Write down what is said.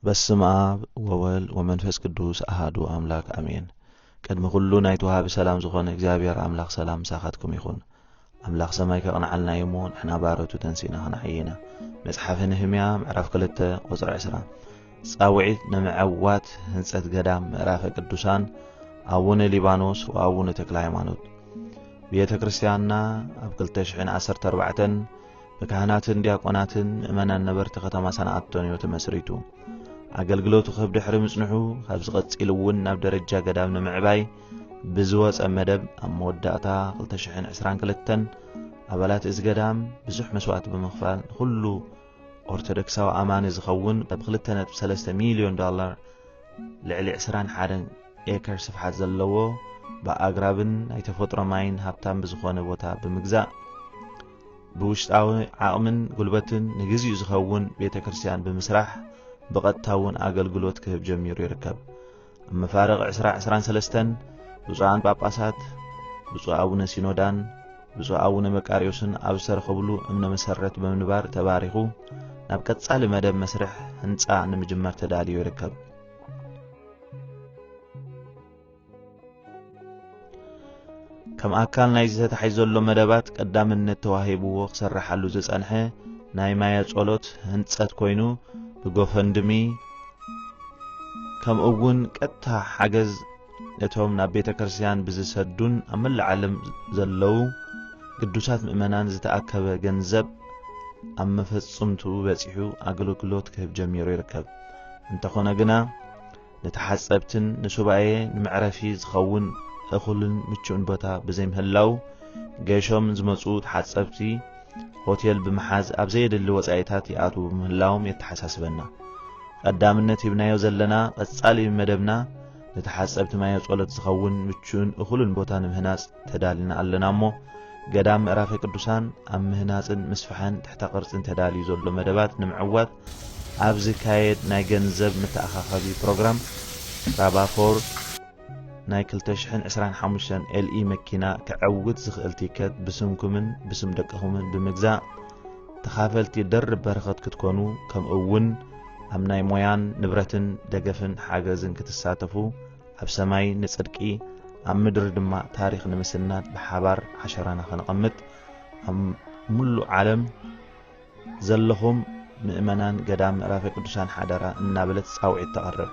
በስም ኣብ ወወል ወመንፈስ ቅዱስ ኣሃዱ ኣምላክ ኣሜን ቅድሚ ኩሉ ናይቲ ወሃቢ ሰላም ዝኾነ እግዚኣብሔር ኣምላኽ ሰላም ምሳኻትኩም ይኹን ኣምላኽ ሰማይ ከቕንዓልና እዩ እሞ ንሕና ባረቱ ተንሲእና ክንዓይ ኢና መጽሓፈ ነህምያ ምዕራፍ 2 ቁፅሪ 20 ጻውዒት ንምዕዋት ህንፀት ገዳም ምዕራፈ ቅዱሳን ኣቡነ ሊባኖስ ወኣቡነ ተክለ ሃይማኖት ቤተ ክርስቲያንና ኣብ 214 ብካህናትን ዲያቆናትን ምእመናን ነበርቲ ከተማ ሰንዓቶን እዩ ተመስሪቱ። ኣገልግሎቱ ክህብ ድሕሪ ምጽንሑ ካብዚ ቀጺሉ እውን ናብ ደረጃ ገዳም ንምዕባይ ብዝወፀ መደብ ኣብ መወዳእታ 222 ኣባላት እዚ ገዳም ብዙሕ መስዋእቲ ብምኽፋል ንኹሉ ኦርቶዶክሳዊ ኣማኒ ዝኸውን ብ 2.3 ሚሊዮን ዶላር ልዕሊ 21 ኤከር ስፍሓት ዘለዎ ብኣግራብን ናይ ተፈጥሮ ማይን ሃብታም ብዝኾነ ቦታ ብምግዛእ ብውሽጣዊ ዓቕምን ጉልበትን ንግዚኡ ዝኸውን ቤተ ክርስቲያን ብምስራሕ ብቐጥታ እውን ኣገልግሎት ክህብ ጀሚሩ ይርከብ። ኣብ መፋርቕ ዕስራ ዕስራን ሰለስተን ብፁዓን ጳጳሳት ብፁዕ ኣቡነ ሲኖዳን ብፁዕ ኣቡነ መቃርዮስን ኣብ ዝተረኸብሉ እምነ መሰረት ብምንባር ተባሪኹ ናብ ቀጻሊ መደብ መስርሕ ህንጻ ንምጅማር ተዳልዮ ይርከብ። ከም ኣካል ናይዚ ተታሒዙ ዘሎ መደባት ቀዳምነት ተዋሂብዎ ክሰረሓሉ ዝጸንሐ ናይ ማያ ጸሎት ህንጸት ኮይኑ ብጎፈንድሚ ከምኡ እውን ቀጥታ ሓገዝ ነቶም ናብ ቤተ ክርስቲያን ብዝሰዱን ኣብ መላእ ዓለም ዘለዉ ቅዱሳት ምእመናን ዝተኣከበ ገንዘብ ኣብ መፈጽምቱ በጺሑ ኣገልግሎት ክህብ ጀሚሩ ይርከብ። እንተኾነ ግና ንተሓጸብትን ንሱባኤ ንመዕረፊ ዝኸውን እኹልን ምቹእን ቦታ ብዘይምህላው ገይሾም ዝመጹ ተሓጸብቲ ሆቴል ብምሓዝ ኣብ ዘየድሊ ወጻኢታት ይኣትዉ ምህላዎም የተሓሳስበና። ቀዳምነት ሂብናዮ ዘለና ቀጻሊ መደብና ንተሓጸብቲ ማየ ጸሎት ዝኸውን ምቹእን እኹልን ቦታ ንምህናጽ ተዳልና ኣለና እሞ ገዳም ምዕራፈ ቅዱሳን ኣብ ምህናጽን ምስፍሐን ትሕተ ቅርጽን ተዳልዩ ዘሎ መደባት ንምዕዋት ኣብ ዝካየድ ናይ ገንዘብ መተኣኻኸቢ ፕሮግራም ራባ ፎር ናይ ክልተ ሽሕን ዕስራን ሓሙሽተን ኤልኢ መኪና ከዐውት ዝኽእል ቲከት ብስምኩምን ብስም ደቅኹምን ብምግዛእ ተኻፈልቲ ደርብ በረኸት ክትኮኑ ከምኡ እውን ኣብ ናይ ሞያን ንብረትን ደገፍን ሓገዝን ክትሳተፉ ኣብ ሰማይ ንጽድቂ ኣብ ምድሪ ድማ ታሪኽ ንምስናድ ብሓባር ዓሸራና ከነቐምጥ ኣብ ምሉእ ዓለም ዘለኹም ምእመናን ገዳም ምዕራፈ ቅዱሳን ሓደራ እናበለት ጻውዒት ተቕርብ።